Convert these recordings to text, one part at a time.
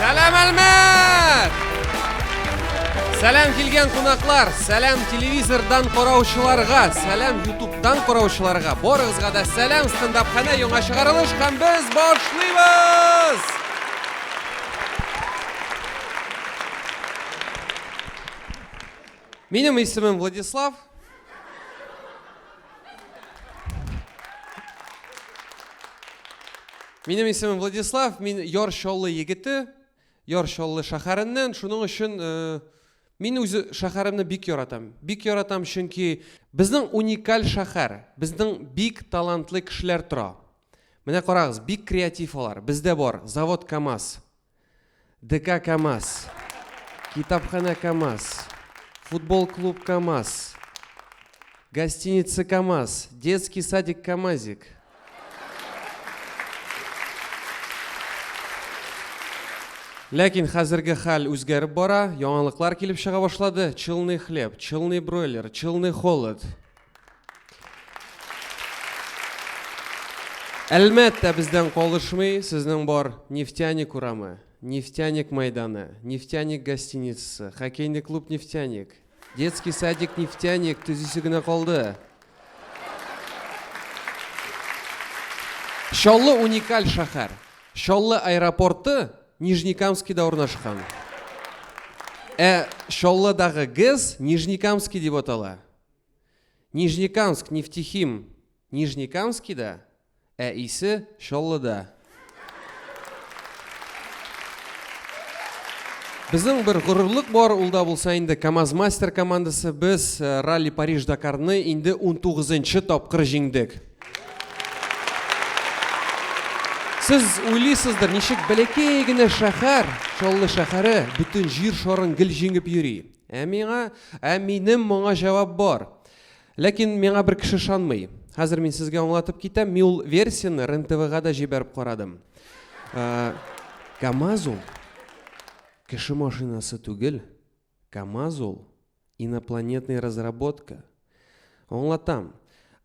Сәлам Әлмәт! Сәлам килгән кунаклар, сәлам телевизордан караучыларга, сәлам ютубтан караучыларга, барыгызга да сәлам стендапханә яңа чыгарылыш һәм без башлыйбыз! Минем исемем Владислав. Минем исемем Владислав, мин Яр Чаллы егете, Яр Чаллы шәһәреннән. Шуның өчен э, мин үз шәһәремне бик яратам. Бик яратам, чөнки безнең уникаль шәһәр, безнең бик талантлы кешеләр тора. Менә карагыз, бик креатив алар. Бездә бар завод КАМАЗ, ДК КАМАЗ, Китапханә КАМАЗ, Футбол клуб КАМАЗ, Гостиница КАМАЗ, Детский садик КАМАЗик. Ләкин хәзерге хәл үзгәреп бара, яңалыклар килеп чыга башлады. Челный хлеб, челный бройлер, челный холод. Әлмәттә бездән калышмый сезнең бар Нефтяник урамы, Нефтяник мәйданы, Нефтяник гостиницасы, хоккейный клуб Нефтяник, детский садик Нефтяник төзисе генә калды. Чаллы уникаль шәһәр. Чаллы аэропорты Нижнекамскида урнашкан. Ә Чаллыдагы ГЭС Нижнекамский дип атала. Нижнекамск, Нефтехим, Нижнекамскида, ә исе Чаллыда. Безнең бер горурлык бар, ул да булса инде КАМАЗ мастер командасы. Без э, ралли Париж Дакарны инде 19-нчы тапкыр җиңдек. Сез уйлыйсыздыр, ничек бәләкәй генә шәһәр, Чаллы шәһәре бөтен җир шарын гел җиңеп йөри. Ә миңа, ә минем моңа җавап бар. Ләкин миңа бер кеше ышанмый. Хәзер мин сезгә аңлатып китәм, мин ул версияне РНТВга да җибәреп карадым. Ә, КАМАЗ ул кеше машинасы түгел. КАМАЗ ул инопланетный разработка. Аңлатам.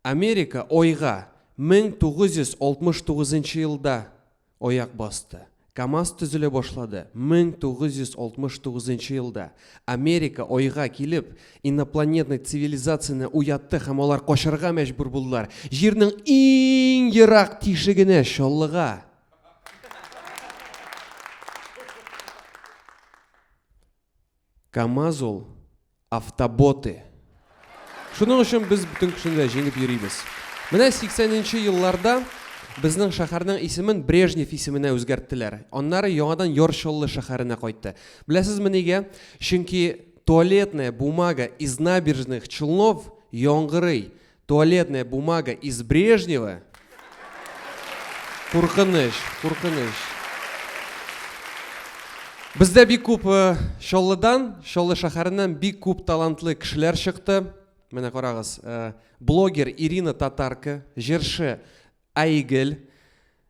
Америка ойга 1969 елда Аяк басты. КАМАЗ төзелә башлады. 1969 нчы елда Америка Айга килеп, инопланетный цивилизацияне уятты һәм алар качарга мәҗбүр булдылар. Җирнең иң ерак тишегенә, Чаллыга. КАМАЗ ул автоботы. Шуның өчен без бөтен кешене дә җиңеп йөрибез. Менә 80 нче елларда безнең шәһәрнең исемен Брежнев исеменә үзгәрттеләр. Аннары яңадан Йорчыллы шәһәренә кайтты. Беләсезме нигә? Чөнки туалетная бумага из набережных Челнов яңгырый. Туалетная бумага из Брежнева. Куркыныч, куркыныч. Бездә бик күп э, Чаллыдан, Чаллы шәһәреннән бик күп талантлы кешеләр чыкты. Менә карагыз, э, блогер Ирина Татарка, җырчы Айгел,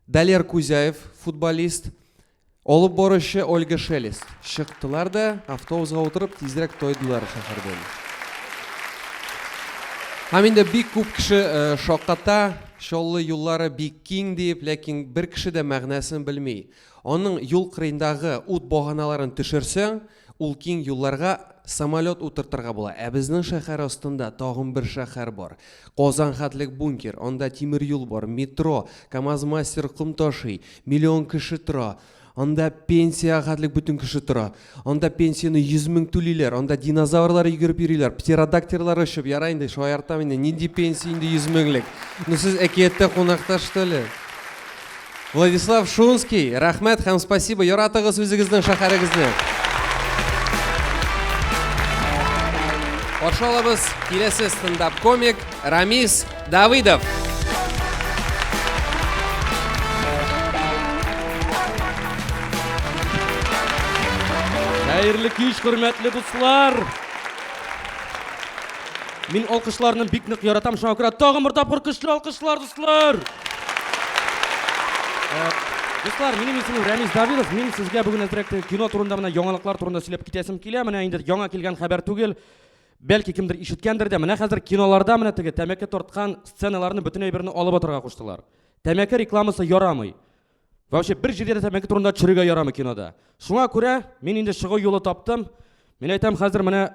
Далер Кузяев, футболист, алып баручы Ольга Шелест чыктылар да, автобусга утырып, тизрәк тайдылар шәһәрдән. Һәм инде бик күп кеше э, шакката, Чаллы юллары бик киң дип, ләкин бер кеше дә мәгънәсен белми. Аның юл кырыендагы ут баганаларын төшерсәң, Ул киң юлларга самолет утыртырга була. Ә безнең шәһәр астында тагын бер шәһәр бар. Казан хәтлек бункер, анда тимер юл бар, метро, КАМАЗ-мастер ком ташый, миллион кеше тора. Анда пенсия хәтлек бөтен кеше тора. Анда пенсияне 100 мең түлиләр, анда динозаврлар йөгереп йөриләр, птеродактерлар очып, ярай инде шаяртам инде, нинди пенсия инде 100 меңлек. Ну сез әкияттә кунакта что ли? Владислав Шунский, рәхмәт һәм спасибо, яратыгыз үзегезнең шәһәрегезне. Каршы алабыз киләсе стендап комик Рамис Давыдов. Хәерле кич, хөрмәтле дуслар! Мин алкышларны бик нык яратам, шуңа күрә тагын бер тапкыр көчле алкышлар Дуслар! Дуслар, минем исемем Рәмис Давидов. Мин сезгә бүген әзрәк кино турында менә яңалыклар турында сөйләп китәсем килә. Менә инде яңа килгән хәбәр түгел. Бәлки кемдер ишеткәндер дә. Менә хәзер киноларда менә теге тәмәке тарткан сценаларны бөтен әйберне алып атырга куштылар. Тәмәке рекламасы ярамый. Вообще бер җирдә дә тәмәке турында төшерергә ярамый кинода. Шуңа күрә мин инде чыгу юлы таптым. Мин әйтәм хәзер менә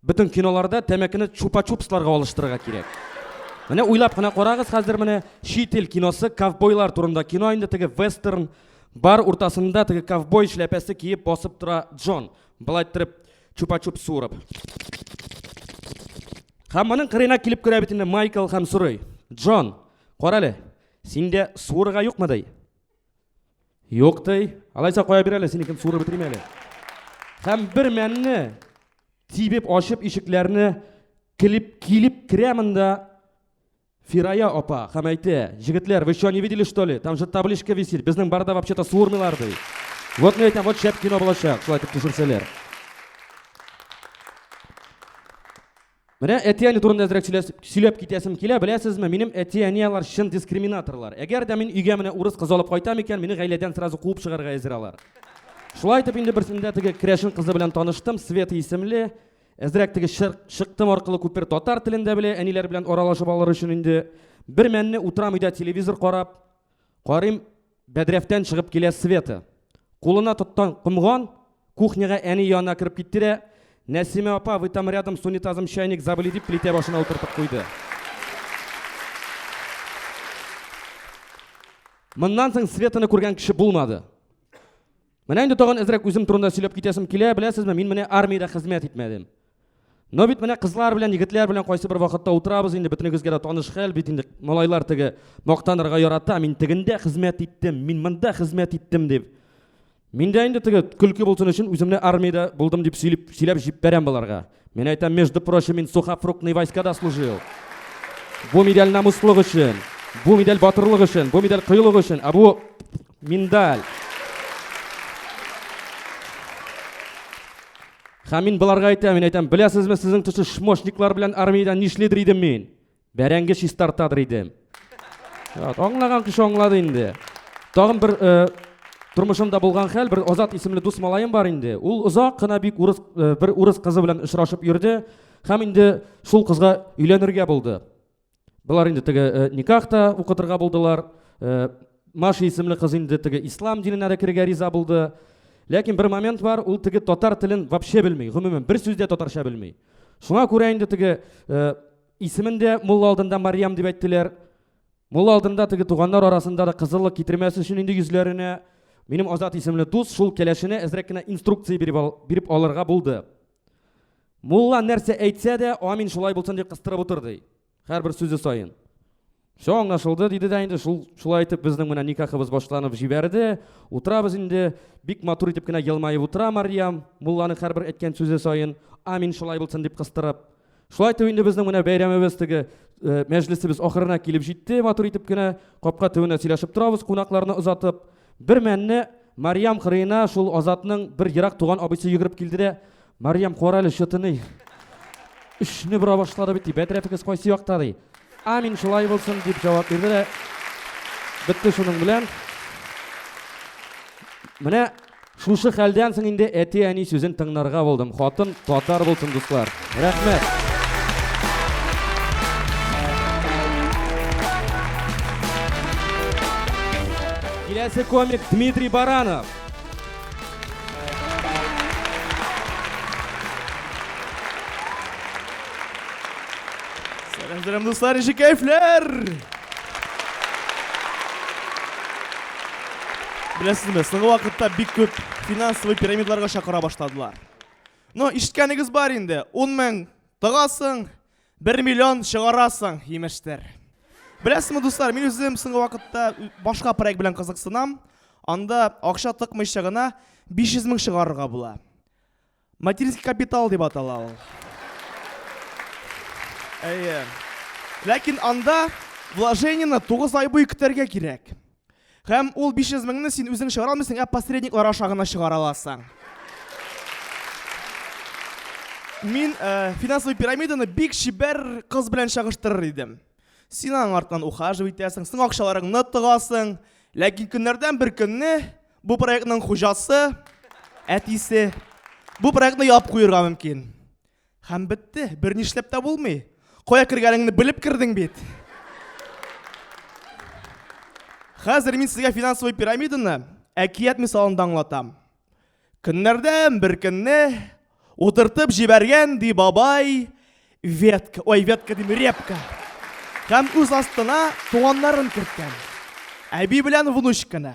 Бөтен киноларда тәмәкене чупа-чупсларга алыштырырга кирәк. Менә уйлап кына карагыз хәзер менә чит ил киносы ковбойлар турында кино инде теге вестерн бар уртасында теге ковбой эшләпәсе киеп басып тора Джон. Былай торып чупа-чуп суырып. Һәм моның кырына килеп керә бит инде Майкл һәм сорый. Джон, карале, синдә суырырга юкмы ди? Юк ди. Алайса кая бир әле, синекен сурып бетерим әле. Һәм бер мәнне тибеп ачып ишекләрне килеп килеп керәмен дә Фирая апа һәм әйтә, җегетләр, вы что, не видели, что ли? Там же табличка висит. Безнең барда вообще-то суырмыйлар ди. Вот мен әйтәм, вот шәп кино булачак, шулай итеп төшерсәләр. Менә әти-әни турында әзрәк сөйләп китәсем килә, беләсезме, минем әти-әни алар чын дискриминаторлар. Әгәр дә мин өйгә менә урыс кызы алып кайтам икән, мине гаиләдән сразу куып чыгарга әзер алар. Шулай итеп инде берсендә теге керәшен кызы белән таныштым, Света исемле. Әзрәк теге шыктым аркылы күпер татар телендә белә, әниләр белән аралашып алыр өчен инде бер мәнне утырам өйдә телевизор карап, карыйм, Бәдрәфтән чыгып килә Света. Кулына тоттан комган, кухняга әни янына кереп китте дә, Нәсимә апа, вы там рядом с унитазом чайник забыли дип плитә башына утыртып куйды. Моннан соң Светаны күргән кеше булмады. Менә инде тагын әзрәк үзем турында сөйләп китәсем килә, беләсезме, мин менә армиядә хезмәт итмәдем. Но бит менә кызлар белән, егетләр белән кайсы бер вакытта утырабыз инде, бөтенегезгә дә таныш хәл бит инде. Малайлар теге мактанырга ярата, мин тегендә хезмәт иттем, мин монда хезмәт иттем дип. Миндә инде теге көлке булсын өчен үземне армиядә булдым дип сөйләп сөйләп җибәрәм боларга. Мин әйтәм, между прочим, мин сухофруктный войскада служил. Бу медаль намуслык өчен, бу медаль батырлык өчен, бу медаль кыюлык өчен, а бу миндаль. Һәм мин боларга әйтәм, мин әйтәм, беләсезме, сезнең төшү шмошниклар белән армиядә нишлидер идем мин? Бәрәңге чистартадыр иде. Ят, аңлаган кеше аңлады инде. Тагын бер э, тормышымда булган хәл, бер Азат исемле дус малаем бар инде. Ул озак кына бик урыс, э, бер урыс кызы белән очрашып йөрде һәм инде шул кызга өйләнергә булды. Болар инде теге э, никах та укытырга булдылар. Э, Маша исемле кыз инде теге ислам диненә дә керергә риза булды. Ләкин бер момент бар, ул теге татар телен вообще белми, гомумән бер сүз дә татарча белми. Шуңа күрә инде теге э, Исемен дә мулла алдында Мариям дип әйттеләр. Мулла алдында теге туганнар арасында да кызыллык китермәсе өчен инде йөзләренә минем Азат исемле дус шул кәләшенә әзрәк кенә инструкция биреп, ал, биреп алырга булды. Мулла нәрсә әйтсә дә, амин шулай булсын дип кыстырып утыр ди. Һәрбер сүзе саен. Все аңлашылды, диде дә инде шул шулай итеп безнең менә никахыбыз башланып җибәрде. Утырабыз инде, бик матур итеп кенә елмаеп утыра Марьям, мулланың һәрбер әйткән сүзе саен, амин шулай булсын дип кыстырып. Шулай итеп инде безнең менә бәйрәмебез теге э, мәҗлесебез ахырына килеп җитте, матур итеп кенә капка төбендә сөйләшеп торабыз, кунакларны озатып. Бер мәнне Марьям кырыена шул Азатның бер ерак туган абыйсы йөгереп килде дә, Мариям, кара әле, чытыный. Өчне бора башлады бит, бәдрәфегез кайсы якта ди. Амин, шулай булсын дип җавап бирде дә. Бетте шуның белән. Менә шушы хәлдән соң инде әти-әни сүзен тыңнарга булдым. Хатын татар булсын, дуслар. Рәхмәт. Киләсе комик Дмитрий Баранов. Сәлам, дуслар, ничек кәйфләр? Беләсезме, соңгы вакытта бик күп финансовый пирамидларга чакыра башладылар. Но ишеткәнегез бар инде, 10 мең тагасың, Бер миллион чыгарасың, имештер. Беләсеңме, дуслар, мин үзем соңгы вакытта башка проект белән кызыксынам. Анда акча тыкмыйча гына 500 мең чыгарырга була. Материнский капитал дип атала ул. Әйе. Ләкин анда вложениены 9 ай буе көтәргә кирәк. Һәм ул 500 меңне син үзең чыгара алмыйсың, ә посредниклар аша гына чыгара аласың. Мин э, финансовый пирамиданы бик чибәр кыз белән чагыштырыр идем. Син аның артынан ухаживать итәсең, син акчаларыңны тыгасың. Ләкин көннәрдән бер көнне бу проектның хуҗасы, әтисе бу проектны яп куерга мөмкин. Һәм бетте, бер нишләп тә булмый. Кая кергәнеңне белеп кердең бит. Хәзер мин сезгә финансовый пирамиданы әкият мисалында аңлатам. Көннәрдән бер көнне утыртып җибәргән ди бабай ветка, ой, ветка дим, репка. Һәм үз астына туганнарын керткән. Әби белән внучканы.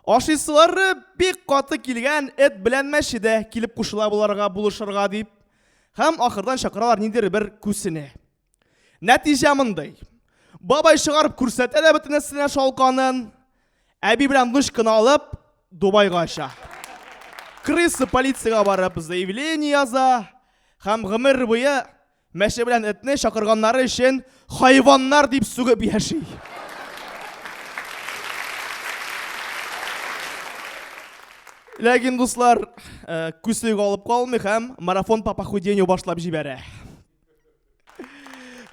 Ашыйсылары бик каты килгән эт белән мәче дә килеп кушыла боларга булышырга дип. Һәм ахырдан чакыралар ниндер бер күсене. Нәтиҗә мондый. Бабай чыгарып күрсәтә дә бөтенесенә шалканын. Әби белән внучканы алып Дубайга оча. Крысы полициягә барып заявление яза һәм гомер буе Мәче белән этне чакырганнары өчен хайваннар дип сүгеп яши. Ләкин дуслар, э, күсек алып калмый һәм марафон по похудению башлап җибәрә.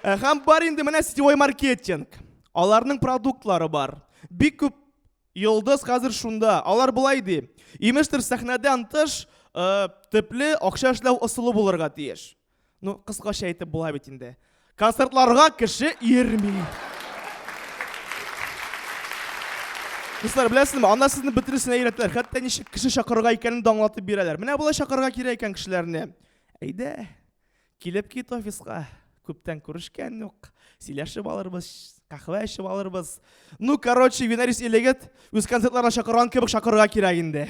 Э, һәм бар инде менә сетевой маркетинг. Аларның продуктлары бар. Бик күп йолдыз хәзер шунда. Алар былай ди. Имештер сәхнәдән тыш э, төпле акча эшләү ысулы булырга тиеш. Ну, кыскача әйтеп була бит инде. Концертларга кеше йөрми. Дуслар, беләсезме, анда сезне бөтенесен әйрәтләр. Хәтта ничек кеше чакырырга икәнен дә аңлатып бирәләр. Менә болай чакырырга кирәк икән кешеләрне. Әйдә, килеп кит офиска. Күптән күрешкән юк. Сөйләшеп алырбыз, кахвә эчеп алырбыз. Ну, короче, Винарис Элегет үз концертларына чакырган кебек чакырырга кирәк инде.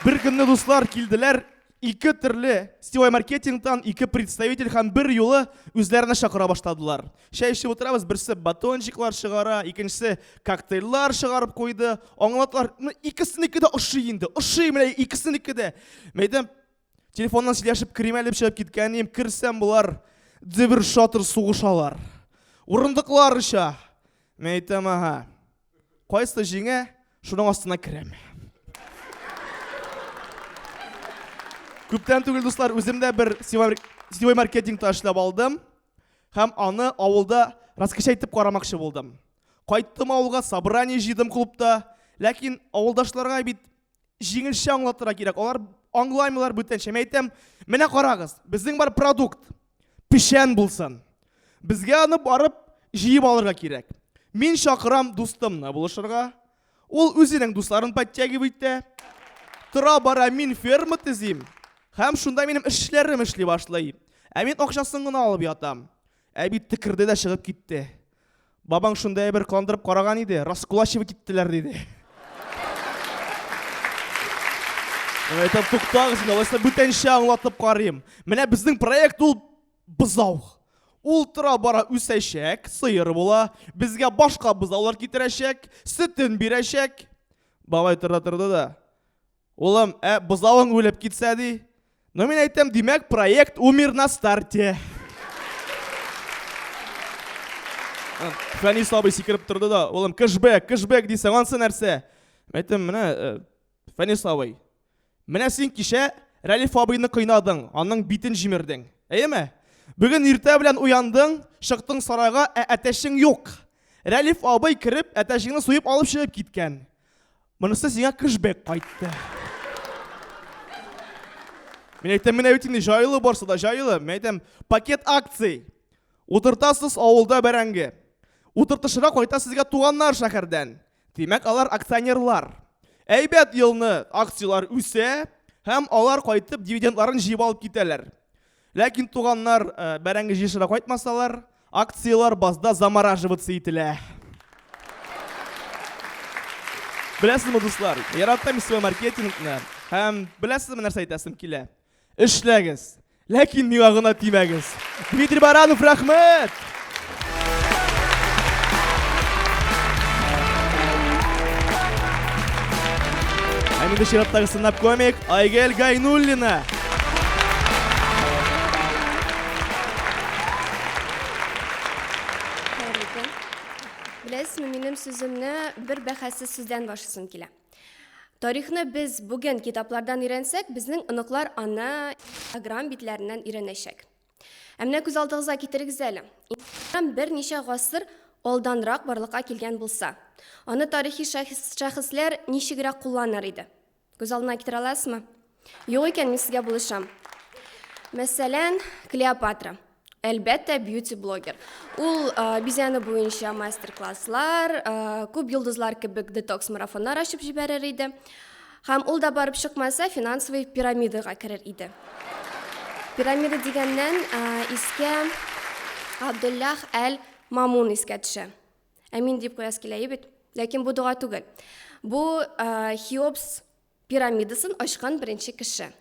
Бер көнне дуслар килделәр, ике төрле сетевой маркетингтан ике представитель һәм бер юлы үзләренә чакыра башладылар. Чәй эчеп утырабыз, берсе батончиклар чыгара, икенчесе коктейльлар чыгарып куйды. Аңлатлар, ну икесенеке дә ошый инде, ошый менә икесенеке дә. Мәйдәм Телефоннан сөйләшеп керим әле чыгып киткәнем, керсәм болар дебер шатыр сугышалар. Урындыклар оча. Мен әйтәм, ага. Кайсы җиңә, шуның астына керәм. Күптән түгел, дуслар, үзем дә бер сетевой маркетингта эшләп алдым һәм аны авылда раскача итеп карамакчы булдым. Кайттым авылга, собрание җыйдым клубта, ләкин авылдашларга бит җиңелчә аңлатырга кирәк. Алар аңлаймыйлар бүтәнчә. Мин әйтәм, менә карагыз, безнең бар продукт печән булсын. Безгә аны барып җыеп алырга кирәк. Мин чакырам дустымны булышырга. Ул үзенең дусларын подтягивай итә. Тора бара мин ферма төзим. Һәм шунда минем эшләрем эшли башлый. Ә мин акчасын гына алып ятам. Ә бит текерде дә чыгып китте. Бабаң шунда әйбер кандырып караган иде, раскулачивать иттеләр диде. Мин әйтәм, туктагыз, мин алайса бүтәнчә аңлатып карыйм. Менә безнең проект ул бызау. Ул тора бара үсәчәк, сыер була, безгә башка бызаулар китерәчәк, сөтен бирәчәк. Бабай тора торды да. Улым, ә бызавың үлеп китсә ди, Ну мин әйтәм, димәк, проект умер на старте. Фәнис абый сикереп торды да, улым, кэшбэк, кэшбэк дисәң, ансы нәрсә? Мен әйтәм, менә э, Фәнис абый. Менә син кичә Рәлиф абыйны кыйнадың, аның битен җимердең. Әйеме? Бүген иртә белән уяндың, чыктың сарайга, ә әтәшең юк. Рәлиф абый кереп, әтәшеңне суеп алып чыгып киткән. Монысы сиңа кэшбэк кайтты. Мин әйтәм, менә бит инде җайлы барса да җайлы. Мин әйтәм, пакет акций. Утыртасыз авылда бәрәңге. Утыртышырга кайта сезгә туганнар шәһәрдән. Димәк, алар акционерлар. Әйбәт елны акцияләр үсә һәм алар кайтып дивидендларын җыеп алып китәләр. Ләкин туганнар э, бәрәңге җыешырга кайтмасалар, акцияләр базда замораживаться ителә. Беләсезме, дуслар, яратам свой маркетингны һәм беләсезме нәрсә әйтәсем килә? Эшләгез, ләкин миңа гына тимәгез. Дмитрий Баранов, рәхмәт! Ә менде чираттагы сынап комик Айгел Гайнуллина. Беләсезме, минем сүземне бер бәхәссез сүздән башлыйсым килә. Тарихны без бүген китаплардан өйрәнсәк, безнең оныклар аны Instagram битләреннән өйрәнәчәк. Ә менә күз алдыгызга китерегез әле. Ислам берничә гасыр алданрак барлыкка килгән булса, аны тарихи шәхесләр ничегрәк кулланыр иде? Күз алдына китерә аласызмы? Юк икән, мин сезгә булышам. Мәсәлән, Клеопатра. Әлбәттә, бьюти-блогер. Ул бизәне буенча мастер-класслар, күп йолдызлар кебек детокс-марафоннар ачып җибәрер иде. Һәм ул да барып чыкмаса, финансовый пирамидага керер иде. Пирамида дигәннән искә Абдуллах әл Мамун искә төшә. Ә мин дип куяс килә бит. Ләкин бу дога түгел. Бу Хиопс пирамидасын ачкан беренче кеше.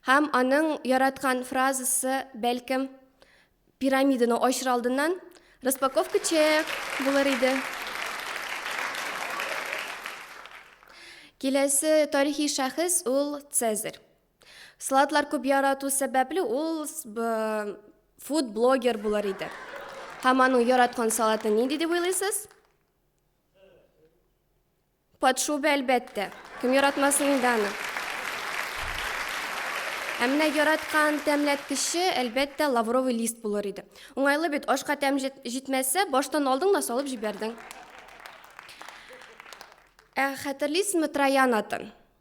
Һәм аның яраткан фразасы, бәлкем, Пирамиданы ачыр алдыннан распаковка чек булыр иде. Киләсе тарихи шәхес ул Цезарь. Салатлар күп ярату сәбәпле ул фуд блогер булыр иде. Һәм аның яраткан салаты нинди дип уйлыйсыз? Подшуба, әлбәттә. Кем яратмасын инде аны. Ә менә яраткан тәмләткече, әлбәттә, лавровый лист булыр иде. Уңайлы бит, ашка тәм җитмәсә, баштан алдың да салып җибәрдең. Ә хәтерлисезме троян атын?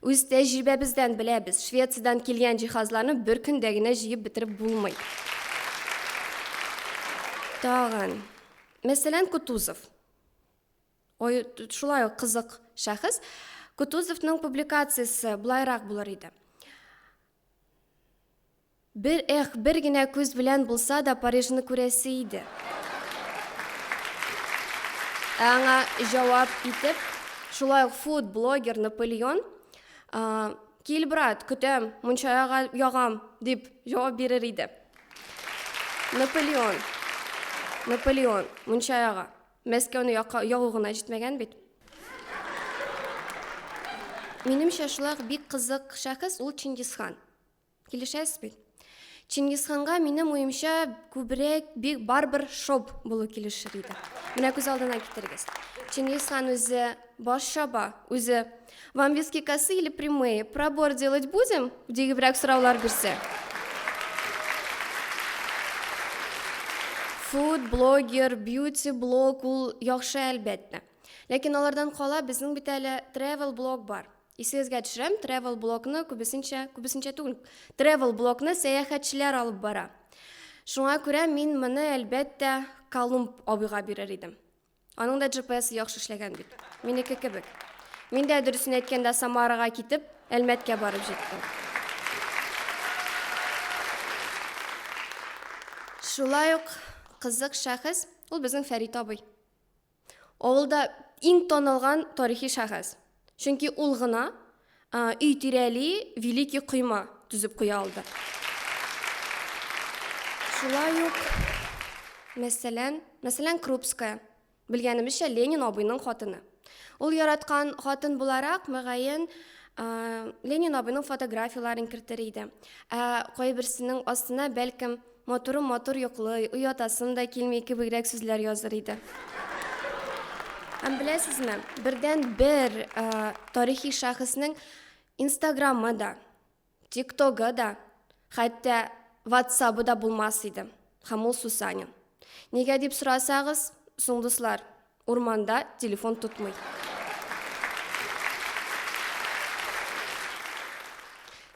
Үз тәҗрибәбездән беләбез, Швециядән килгән җиһазларны бер көндә генә җыеп бетереп булмый. Тагын, мәсәлән, Кутузов. Ой, шулай ук кызык шәхес. Кутузовның публикациясе былайрак булыр иде. Бер, эх, бер генә күз белән булса да Парижны күрәсе иде. Ә аңа җавап итеп, шулай ук фуд блогер Наполеон, кил, брат, көтәм, мунча ягам, дип җавап бирер иде. Наполеон, Наполеон, мунча яга. Мәскәүне яка, ягу гына җитмәгән бит. Минемчә, шулай ук бик кызык шәхес ул Чингисхан. Килешәсез бит? Чингисханга, минем уемча, күбрәк бик барбер шоп булу килешер иде. Менә күз алдына китерегез. Чингисхан үзе баш чаба, үзе Вам виски косы или прямые? Пробор делать будем? дигебрәк сораулар бирсә. Фуд, блогер, бьюти, блог ул яхшы әлбәттә. Ләкин алардан кала безнең бит әле travel блог бар. Исегезгә төшерәм, travel блогны күбесенчә, күбесенчә түгел, travel блогны сәяхәтчеләр алып бара. Шуңа күрә мин моны әлбәттә Колумб абыйга бирер идем. Аның да GPS яхшы эшләгән бит. Минеке кебек. Мин дә дөресен әйткәндә Самарага китеп, Әлмәткә барып җиттем. Шулай ук кызык шәхес, ул безнең Фәрит абый. Авылда иң танылган тарихи шәхес. Чөнки ул гына өй тирәли великий койма төзеп куя алды. Шулай ук, мәсәлән, мәсәлән, Крупская, белгәнебезчә, Ленин абыйның хатыны. Ул яраткан хатын буларак, мөгаен, Ленин абыйның фотографияләрен кертер иде. Ә кайберсенең астына, бәлкем, Матурым матур йоклый, оятасым да килми кебегрәк сүзләр языр иде. Һәм беләсезме, бердән бер ә, тарихи шәхеснең инстаграмы да, тиктогы да, хәтта ватсабы да булмас иде. Һәм ул Сусанин. Нигә дип сорасагыз, соң дуслар, Урманда телефон тотмый.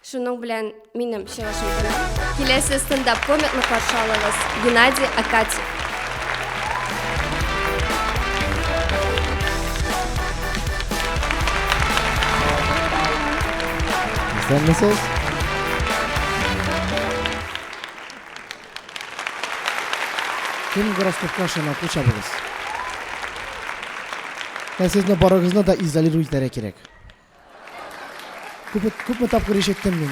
Шуның белән минем чыгышым тәмам. Киләсе стендап комикны каршы алыгыз. Геннадий Акатьев. Исәнмесез! Кем гороскопка ышана, кул чабыгыз. Ә сезне барыгызны да изолиру итәргә кирәк. Күп, күпме тапкыр ишеттем мин.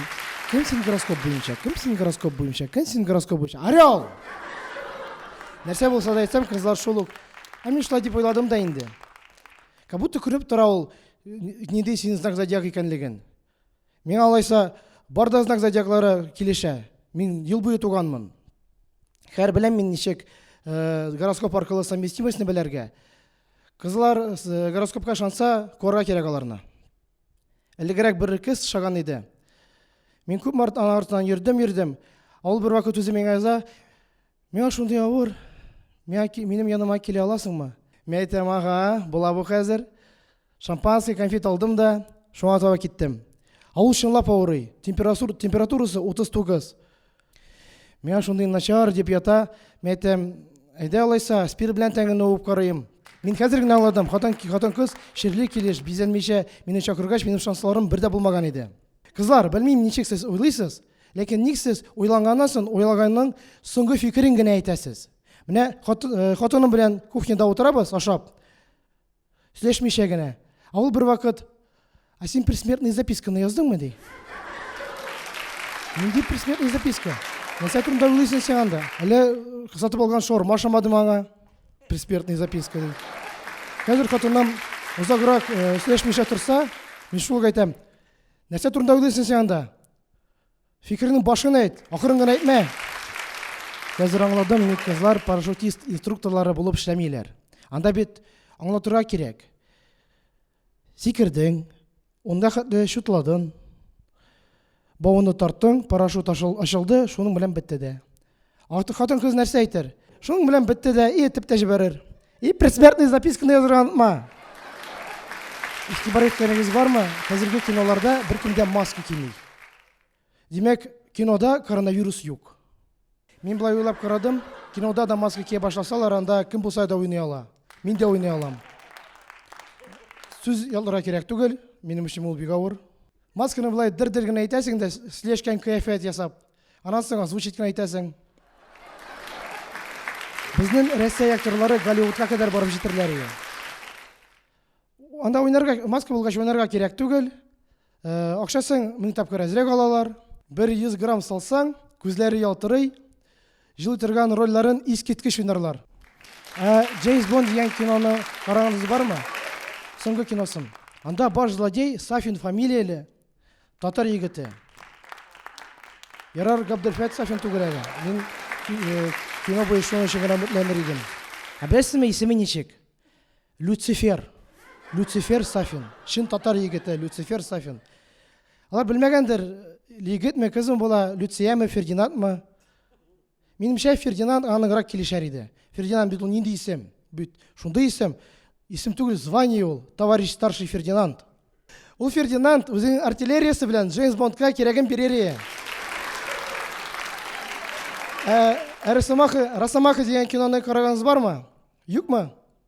Кем син гороскоп буенча? Кем син гороскоп буенча? Кем син гороскоп буенча? Орел! Нәрсә булса да әйтсәм, кызлар шул ук. Ә мин шулай дип уйладым да инде. Как будто күреп тора ул, ниндәй синең знак зодиак икәнлеген. Миңа алайса бар да знак зодиаклары килешә. Мин ел буе туганмын. Хәр беләм мин ничек э, гороскоп аркылы совместимостьны беләргә. Кызлар э, гороскопка шанса куарга кирәк аларны. Элегрәк бер кыз шаган иде. Мин күп март ана артынан йөрдем, йөрдем. Ул бер вакыт үзе миңа яза, Миңа шундый авыр, миңа, минем яныма килә аласыңмы? Мин әйтәм, ага, була бу хәзер. Шампанский, конфет алдым да, шуңа таба киттем. Ә ул чынлап авырый, температур, температурасы 39. Миңа шундый начар дип ята, мин әйтәм, әйдә алайса, спир белән тәңгәне уып карыйм. Мин хәзер генә аңладым, хатын, хатын кыз ширле килеш, бизәнмичә мине чакыргач, минем шансларым бер дә булмаган иде. Кызлар, белмим, ничек сез уйлыйсыз, ләкин ник сез уйланганнан соң уйлаганның соңгы фикерен генә әйтәсез? Менә э, хатыным белән кухняда утырабыз, ашап, сөйләшмичә генә. Ә ул бервакыт, а син предсмертный записканы яздыңмы, ди. Нинди предсмертный записка? Нәрсә турында уйлыйсың син анда? Әле сатып алган шаурма шамадым аңа. Предсмертный записка ди. Хәзер хатыным озаграк э, сөйләшмичә торса, мин шул әйтәм, Нәрсә турында уйлыйсың син анда? Фикернең башын әйт, ахырын гына әйтмә. Хәзер аңладым, ник кызлар парашютист инструкторлары булып эшләмиләр. Анда бит аңлатырга кирәк. Сикердең, унда хәтле шутладың, бауны тарттың, парашют ашылды, шуның белән бетте дә. Артык хатын кыз нәрсә әйтер? Шуның белән бетте дә, и этеп тә җибәрер. И предсмертный записканы язырга онытма. Игътибар иткәнегез бармы? Хәзерге киноларда беркем дә маска кими. Димәк, кинода коронавирус юк. Мин былай уйлап карадым, кинода да маска кия башласалар, анда кем булса да уйный ала. Мин дә уйный алам. Сүз ялларга кирәк түгел, минем өчен ул бик авыр. Масканы былай дер-дер генә әйтәсең дә, слешкән кыяфәт ясап, Аннан соң озвучить кенә итәсең. Безнең Россия актерлары Голливудка кадәр барып җитерләр иде. Анда уйнарга, маска булгач уйнарга кирәк түгел. Э, акчасын мең тапкыр әзрәк алалар. 100 грамм салсаң, күзләре ялтырый, җылый торган рольләрен искиткеч уйнарлар. Ә Джеймс Бонд дигән киноны караганыгыз бармы? Соңгы киносын. Анда баш злодей Сафин фамилияле Татар егете. Ярар, Габделфәт Сафин түгәрәге. Мин э, кино буенча өчен генә мөтләнер идем. Ә беләсезме, исеме ничек? Люцифер. Люцифер Сафин. Шин татар егете Люцифер Сафин. Алар белмәгәндер, егетме, кызмы була, Люцияме, Фердинандмы? Минемчә, Фердинанд аңа ныграк килешәр иде. Фердинанд бит ул нинди исем? Бит шундый исем. Исем түгел, звание ул. Товарищ старший Фердинанд. Ул Фердинанд үзенең артиллериясе белән Джеймс Бондка кирәген бирер иде. Ә, ә Росомаха, Росомаха дигән киноны караганыгыз бармы? Юкмы?